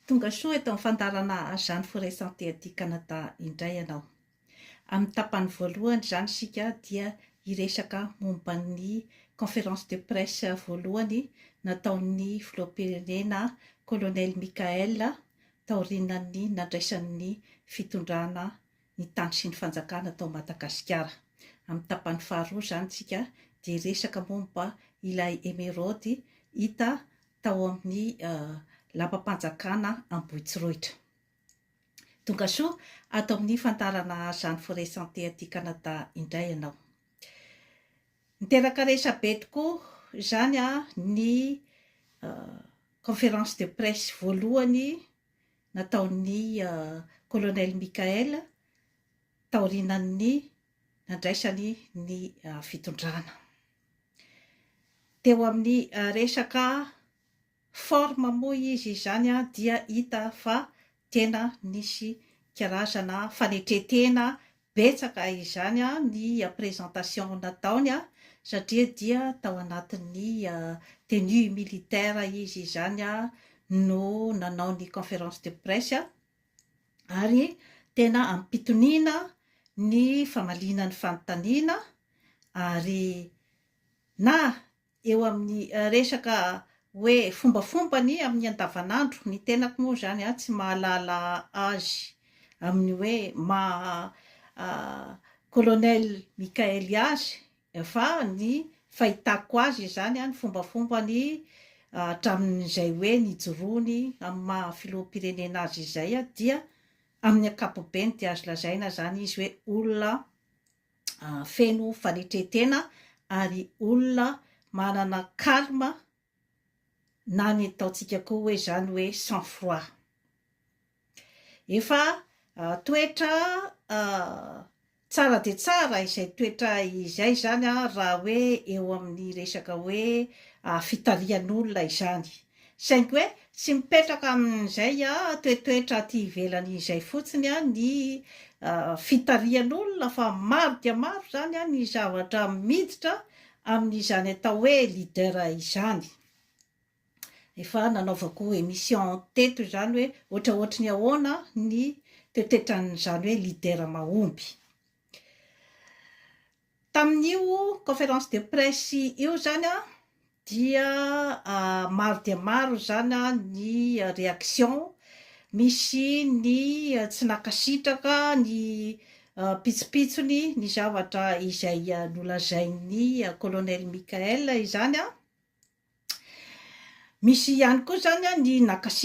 Tonga soa eto amin'ny fandaharana Jeanne Forêt Santé aty Canada indray ianao. Amin'ny tapany voalohany izany isika dia hiresaka momba ny conférence de presse voalohany nataon'ny Filoham-pirenena Colonel Mickaël taorianan'ny nandraisany ny fitondrana ny tany sy ny fanjakana tao Madagasikara. Amin'ny tapany faharoa izany isika dia hiresaka momba ilay emeraude hita tao amin'ny lapam-panjakana Ambohitsorohitra. Tongasoa ato amin'ny fandaharana Jeanne Forêt Santé aty Canada indray ianao. Niteraka resabe tokoa izany a, ny conférence de presse voalohany nataon'ny Colonel Michael taorianan'ny nandraisany ny fitondrana. Teo amin'ny resaka forme moa izy izany dia hita fa tena nisy karazana fanetren-tena betsaka izany ny présentation nataony satria dia tao anatin'ny tenue militaire izy izany no nanao ny conférence de presse. ary tena ampitoniana ny famaliana ny fanontaniana ary na eo amin'ny resaka hoe fombafombany amin'ny andavanandro, ny tenako moa izany an, tsy mahalala azy amin'ny hoe maha Colonel Mickaëly azy Efa ny fahitako azy izany ny fombafombany hatramin'izay hoe nijoroany amin'ny maha filoham-pirenena azy izay dia amin'ny ankapobeny dia azo lazaina izany izy hoe olona feno fanetre-tena ary olona manana calme na ny ataontsika koa hoe izany hoe sang froid. Efa toetra tsara dia tsara izay toetra izay izany raha hoe eo amin'ny resaka hoe fitarihan'olona izany. Saingy hoe tsy mipetraka amin'izay toetoetra aty ivelany izay fotsiny ny fitarihan'olona fa maro dia maro izany ny zavatra miditra amin'izany atao hoe leader izany. Efa nanaovako emission teto izany hoe ohatraohatry ny ahoana ny toetetran'izany hoe leader mahomby. Tamin'io conférence de presse io izany an, dia maro dia maro izany ny réaction, misy ny tsy nankasitraka ny ampitsopitsony ny zavatra izay nolazain'ny Colonel Michael izany an, misy ihany koa izany an ny nakasitraka.